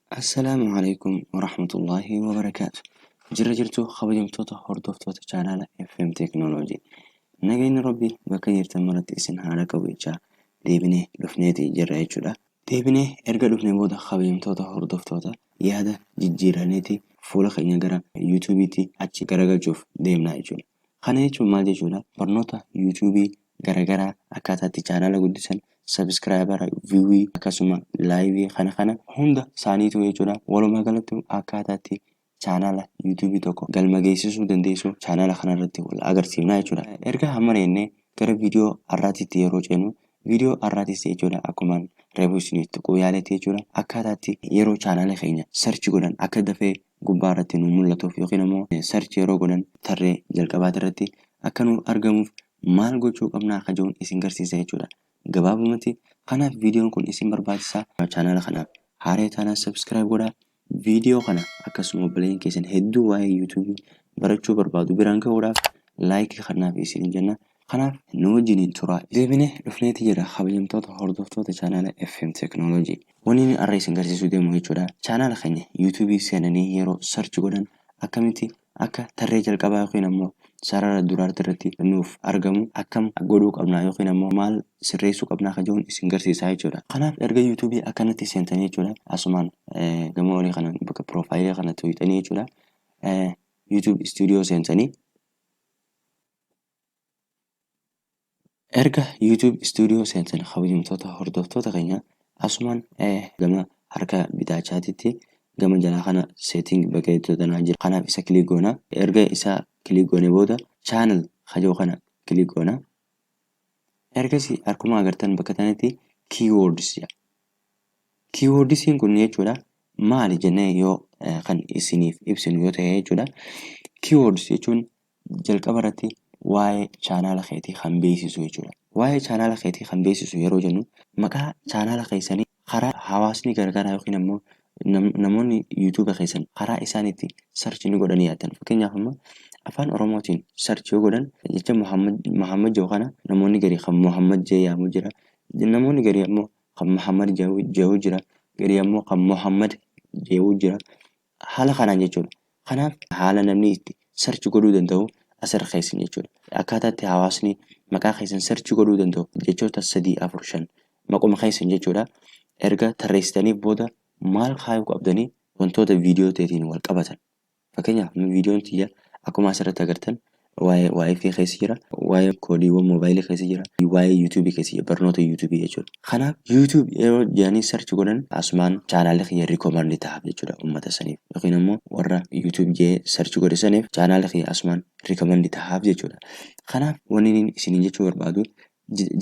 Assalaamu Aleykum Warahmatullaahi Wabarakaatu Jirra jirtuu kabajamtoota hordoftoota chaanaala FM Teeknooloojii Nageenyi Rabbi bakka jirtan maratti isin haa dhaqqabu jechaa deebinee dhufneeti jirra jechuudha. Deebinee erga dhufnee booda kabajamtoota hordoftoota yaada jijjiirraneeti fuula keenya gara yuutuubiitti achi garagalchuuf deemna jechuudha. Kana jechuun maal jechuudha? Barnoota yuutuubii garagaraa akkaataa itti chaanala guddisan sabiskiraayibara viiwii akkasuma laayivii kana kana hunda isaaniitu jechuudha walumaa galatti akkaataa itti chaanala yuutuubii tokko galma geessisuu dandeessu chaanala kana irratti wal agarsiifna jechuudha erga hamma reennee gara viidiyoo har'aatitti yeroo ceenu viidiyoo har'aatis jechuudha akkumaan reefu isiniif tuquu yaaletti jechuudha akkaataa itti yeroo chaanala keenya sarchi godhan akka dafee gubbaa irratti nu mul'atuuf yookiin immoo sarchi yeroo godhan tarree jalqabaati irratti akka nu argamuuf maal gochuu qabna akka jiruun isin garsiisa jechuudha gabaabumatti kanaaf viidiyoon kun isin barbaachisa chaanaala kanaaf haaree taanaan subscribe godhaa viidiyoo kana akkasuma obboleeyyan keessan hedduu waa'ee yuutuubii barachuu barbaadu biraan ga'uudhaaf laayikii kanaaf isin jenna kanaaf nu wajjiniin turaa deebine dhufneeti jira kabajamtoota hordoftoota chaanaala FM Technology waniin arra isin garsiisuu deemu jechuudha chaanaala keenya yuutuubii seenanii yeroo search godhan akkamitti Akka tarree jalqabaa yookiin ammoo sarara duraarti irratti nuuf argamu akkam godhuu qabnaa yookiin ammoo maal sirreessuu qabnaa ka jiruun isin garsiisaa jechuudha. Kanaaf erga YouTube akkanatti seentanii jechuudha asumaan gama olii kana bakka profile kana tuuxanii jechuudha YouTube studio seentanii Erga YouTube Studio seentan kabajamtoota hordoftoota keenya asumaan gama harka bitaachaatitti gama jalaa kana setting bageettoo tanaa jira. Kanaaf isa kilik goona. Erga isa kilik goone booda channel kajoo kana kilik goona. Ergasii akkuma agartan bakka tanatti keywords jedha. Keywordsiin kun jechuudha maali jennee yoo kan isiniif ibsinu yoo ta'e jechuudha. Keywords jechuun Jalqaba irratti waa'ee chaanaala keetii kan beeksisu jechuudha. Waa'ee chaanaala keetii kan beeksisu yeroo jennu maqaa chaanaala keessanii karaa hawaasni gargaraa yookiin ammoo namoonni yuutuuba keessan karaa isaan itti sarchi ni godhanii yaaddan. Fakkeenyaaf amma afaan Oromootiin sarchi yoo godhan jecha Muhammad jedhu kana namoonni gari kan Muhammad jee yaamu jira. Namoonni gari ammoo kan Muhammad jedhu jira. Gari ammoo kan Muhammad jedhu jira. Haala kanaan jechuudha. Kanaaf haala namni itti search godhuu danda'u asirra keessan jechuudha. Akkaataa itti hawaasni maqaa keessan search godhuu danda'u jechoota sadii afur shan maquma keessan jechuudha. Erga tarreessitanii booda maal kaayuu qabdanii wantoota viidiyoo ta'eetiin wal qabatan. Fakkeenyaaf viidiyoon tiyya akkuma asirratti agartan waa'ee wifi keessa jira, waa'ee koodiiwwan moobaayilii keessa jira, waa'ee yuutuubii keessa jira, barnoota yuutuubii jechuudha. Kanaaf yuutuub yeroo jedhanii sarchi godhan asumaan chaanaalli kiyya rikoomandi ta'aaf jechuudha uummata saniif yookiin ammoo warra yuutuub jedhee sarchi godhe saniif chaanaalli kiyya asumaan rikoomandi ta'aaf jechuudha. Kanaaf wanni isiniin jechuu barbaadu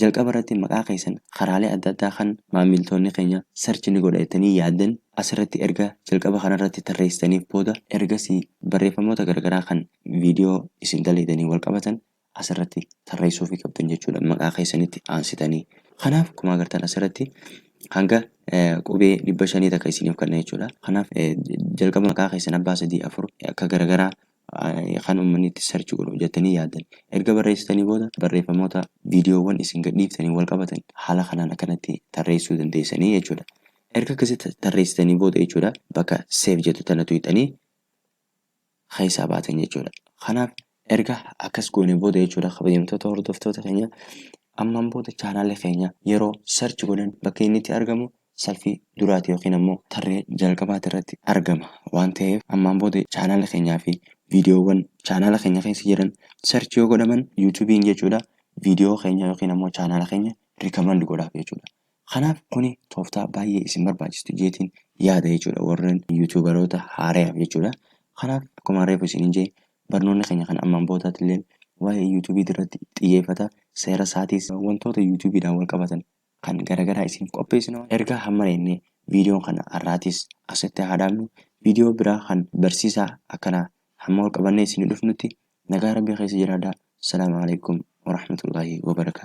Jalqaba irratti maqaa keessan karaalee adda addaa kan maamiltoonni keenya search ni godha jettanii yaaddan as irratti erga jalqaba kana irratti tarreessitaniif booda ergasii barreeffamoota garagaraa kan viidiyoo isin daleedanii wal qabatan as irratti tarreessuufii qabdan jechuudha maqaa keessanitti aansitanii. Kanaaf akkuma agartan as irratti hanga qubee dhibba shanii takka isiniif kenna jechuudha. Kanaaf jalqaba maqaa keessan abbaa sadii afur akka garagaraa kan uummanni itti search godhu jettanii yaaddan erga barreessitanii booda barreeffamoota viidiyoowwan isin gadhiiftanii wal qabatan haala kanaan akkanatti tarreessuu dandeessanii jechuudha. Erga akkasitti tarreessitanii booda jechuudha bakka save jettu tana tuqxanii keessaa baatan jechuudha. Kanaaf erga akkas goone booda jechuudha kabajamtoota hordoftoota keenya ammaan booda chaanaalli keenya yeroo search godhan bakka inni itti argamu salfii duraati yookiin ammoo tarree jalqabaati irratti argama waan ta'eef ammaan booda chaanaala keenyaa fi viidiyoowwan chaanaala keenya keessa jiran search yoo godhaman yuutuubiin jechuudha viidiyoo keenya yookiin ammoo chaanaala keenya recommend godhaaf jechuudha. Kanaaf kuni tooftaa baay'ee isin barbaachistu jeetiin yaada jechuudha warreen yuutuubaroota haarayaaf jechuudha. Kanaaf akkuma reefu isiniin jee barnoonni keenya kan ammaan boodaatti illee waa'ee yuutuubii irratti xiyyeeffata seera isaatiis wantoota yuutuubiidhaan wal qabatan kan garagaraa isiniif qopheessina waan ergaa hammana jennee viidiyoo kana har'aatis asitti haa dhaabnu viidiyoo biraa kan barsiisaa akkanaa hamma wal qabannee isinii dhufnutti nagaa rabbii keessa jiraadhaa salaamu alaikum warahmatullaahi wabarakaatu